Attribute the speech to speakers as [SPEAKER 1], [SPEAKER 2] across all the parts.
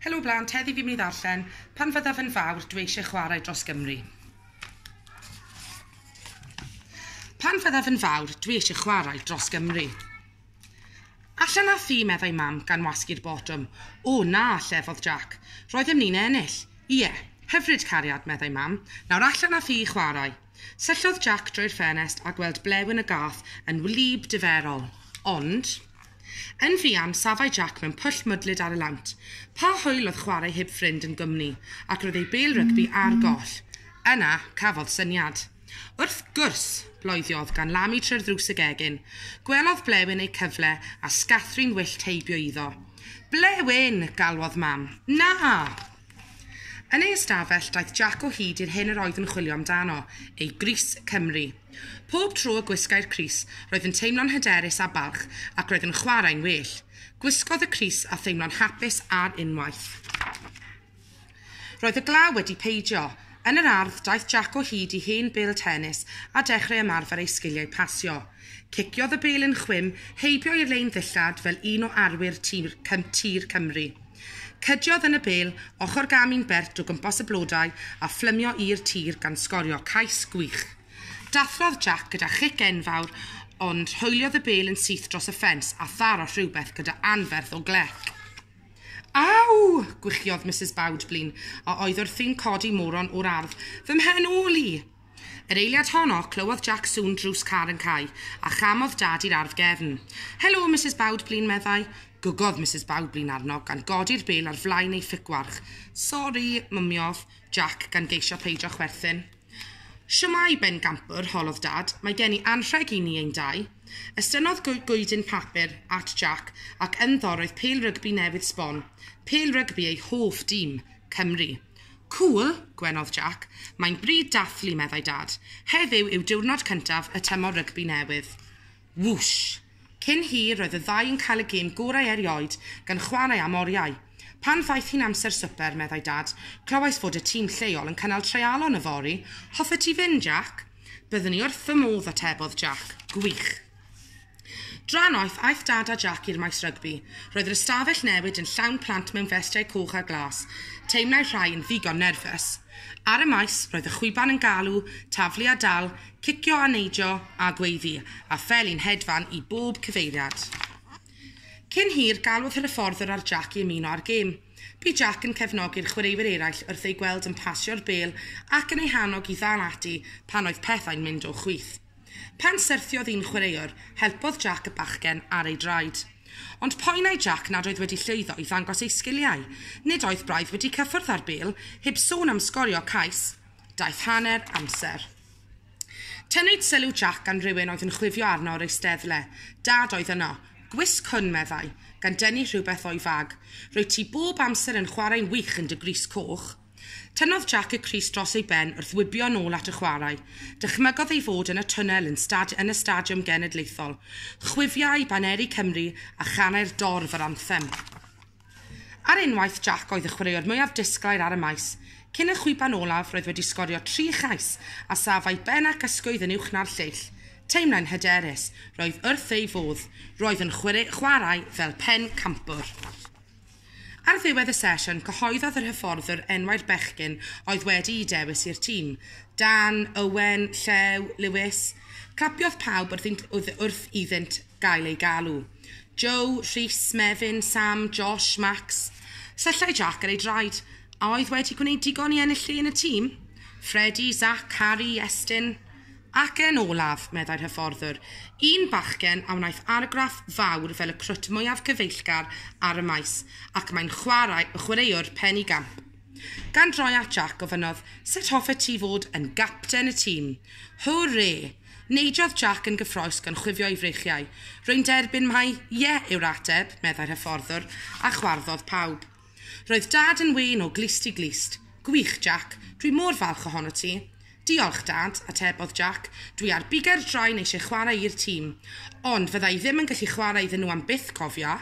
[SPEAKER 1] Helo blant, heddi fi'n mynd i ddarllen Pan fyddaf yn fawr, dwi eisiau chwarae dros Gymru. Pan fyddaf yn fawr, dwi eisiau chwarae dros Gymru. Allan â thi, meddai mam, gan wasgu'r botwm. O, na, llefodd Jack. Roeddem ni'n ennill. Ie, hyfryd, cariad, meddai mam. Nawr allan â thi i chwarae. Syllodd Jac drwy'r ffenest a gweld blewyn y gath yn wlyb diferol. Ond. Yn fuan, safai Jac mewn pwll mwdlyd ar y lawnt. Pa hwyl oedd chwarae heb ffrind yn gwmni, ac roedd ei bêl rygbi ar goll. Yna, cafodd syniad. Wrth gwrs! Bloediodd gan lamu trwy'r ddrws y gegin. Gwelodd blewyn eu cyfle, a sgathrun wyllt heibio iddo. Blewyn! galwodd Mam. Na! Yn ei ystafell, daeth Jac o hyd i'r hyn yr oedd yn chwilio amdano, ei grys Cymru. Pob tro y gwisgai'r crys, roedd yn teimlo'n hyderus a balch ac roedd yn chwarae'n well. Gwisgodd y crys a theimlo'n hapus ar unwaith. Roedd y glaw wedi peidio. Yn yr ardd, daeth Jac o hyd i hen bêl tenis a dechreu ymarfer ei sgiliau pasio. Ciciodd y bêl yn chwim, heibio i'r lein ddillad fel un o arwyr tir Cymru. Cydiodd yn y bêl ochr gam un bert o gwmpas y blodau a phlymio i'r tir gan sgorio cais gwych. Dathlodd Jack gyda chic enfawr ond hoeliodd y bêl yn syth dros y ffens a tharo rhywbeth gyda anferth o glec. Aw! gwichiodd Misus Bowdblin, a oedd wrthi'n codi moron o'r ardd. Fy mhen ôl i! Yr eiliad honno, clywodd Jac sŵn drws car yn cau, a chamodd Dad i'r ardd gefn. Helo, Misus Bawdblin, meddai. Gwgodd Misus Bawdblin arno, gan godi'r bel ar flaen ei ffigwarch. Sori, mymiodd Jac, gan geisio peidio chwerthin. Shwmae, bengampwr, holodd Dad. Mae gen i anrheg i ni ein dau. Estynnodd goedyn papur at Jac, ac ynddo roedd pêl rygbi newydd sbon. Pêl rygbi ei hoff dîm, Cymru. Cŵl, gwenodd Jac. Mae'n bryd dathlu, meddai Dad. Heddiw yw diwrnod cyntaf y tymor rygbi newydd. Wwsh! Cyn hir, roedd y ddau yn cael y gêm gorau erioed, gan chwarae am oriau. Pan ddaeth hi'n amser swper, meddai Dad, clywais fod y tîm lleol yn cynnal treialon yfory. Hoffet ti fynd, Jac? Byddwn i wrth fy modd, atebodd Jac. Gwych! Drannoeth, aeth Dad a Jac i'r maes rygbi. Roedd yr ystafell newid yn llawn plant mewn festiau coch a glas. Teimlai rhai yn ddigon nerfus. Ar y maes, roedd y chwiban yn galw, taflu a dal, cicio a neidio, a gweiddi, a phel i'n hedfan i bob cyfeiriad. Cyn hir, galwodd hyfforddwr ar Jac i ymuno â'r gêm. Bu Jac yn cefnogi'r chwaraewyr eraill wrth eu gweld yn pasio'r bêl ac yn eu hannog i ddal ati pan oedd pethau'n mynd o chwith. Pan syrthiodd un chwaraewr, helpodd Jack y bachgen ar ei draed. Ond poenai Jack nad oedd wedi llwyddo i ddangos ei sgiliau. Nid oedd braidd wedi cyffwrdd â'r bêl, heb sôn am sgorio cais. Daeth hanner amser. Tynnwyd sylw Jack gan rywun oedd yn chwifio arno o'r eisteddle. Dad oedd yno. Gwisg hwn, meddai, gan dynnu rhywbeth o'i fag. Rwyt ti bob amser yn chwarae'n wych yn dy grys coch. Tynnodd Jack y crys dros ei ben wrth wibio yn ôl at y chwarae. Dychmygodd ei fod yn y twnnel yn stad yn y Stadiwm Genedlaethol, chwifiai baneri Cymru a chanai'r dorf yr anthem. Ar unwaith, Jack oedd y chwaraewr mwyaf disglair ar y maes. Cyn y chwiban olaf, roedd wedi sgorio tri chais a saf a'i ben ac ysgwydd yn uwch na'r lleill. Teimlai'n hyderus. Roedd wrth ei fodd. Roedd yn chwarae fel pencampwr. Ar ddiwedd y sesiwn, cyhoeddodd yr hyfforddwr enwau'r bechgyn oedd wedi'u dewis i'r tîm, Dan, Owen, Llew, Lewis. Clapiodd pawb wrth iddynt wrth wrth iddynt gael eu galw. Joe, Rhys, Mefin, Sam, Josh, Max. Syllau Jack ar ei draed. A oedd wedi gwneud digon i ennill lle yn y tîm? Freddie, Zach, Harry, Estyn. Ac yn olaf, meddai'r hyfforddwr, un bachgen a wnaeth argraff fawr fel y crwt mwyaf cyfeillgar ar y maes, ac mae'n chwarae y chwaraewr pen i gamp. Gan droi at Jack, gofynnodd, Sut hoffet ti fod yn gapten y tîm? Hwrê! Neidiodd Jack yn gyffrous gan chwifio ei freichiau. Rwy'n derbyn mai 'ie' yw'r ateb, meddai'r hyfforddwr, a chwarddodd pawb. Roedd Dad yn wên o glust i glust. Gwych, Jac. Dwi mor falch ohono ti. Diolch, Dad, atebodd Jac. Dwi ar bugail draen eisiau chwarae i'r tîm. Ond fydda i ddim yn gallu chwarae iddyn nhw am byth, cofia.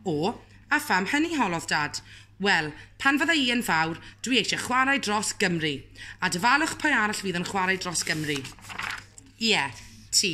[SPEAKER 1] O, a pham hynny, holodd Dad. Wel, pan fydda i yn fawr, dwi eisiau chwarae dros Gymru. A dyfalwch pwy arall fydd yn chwarae dros Gymru. Ie, ti.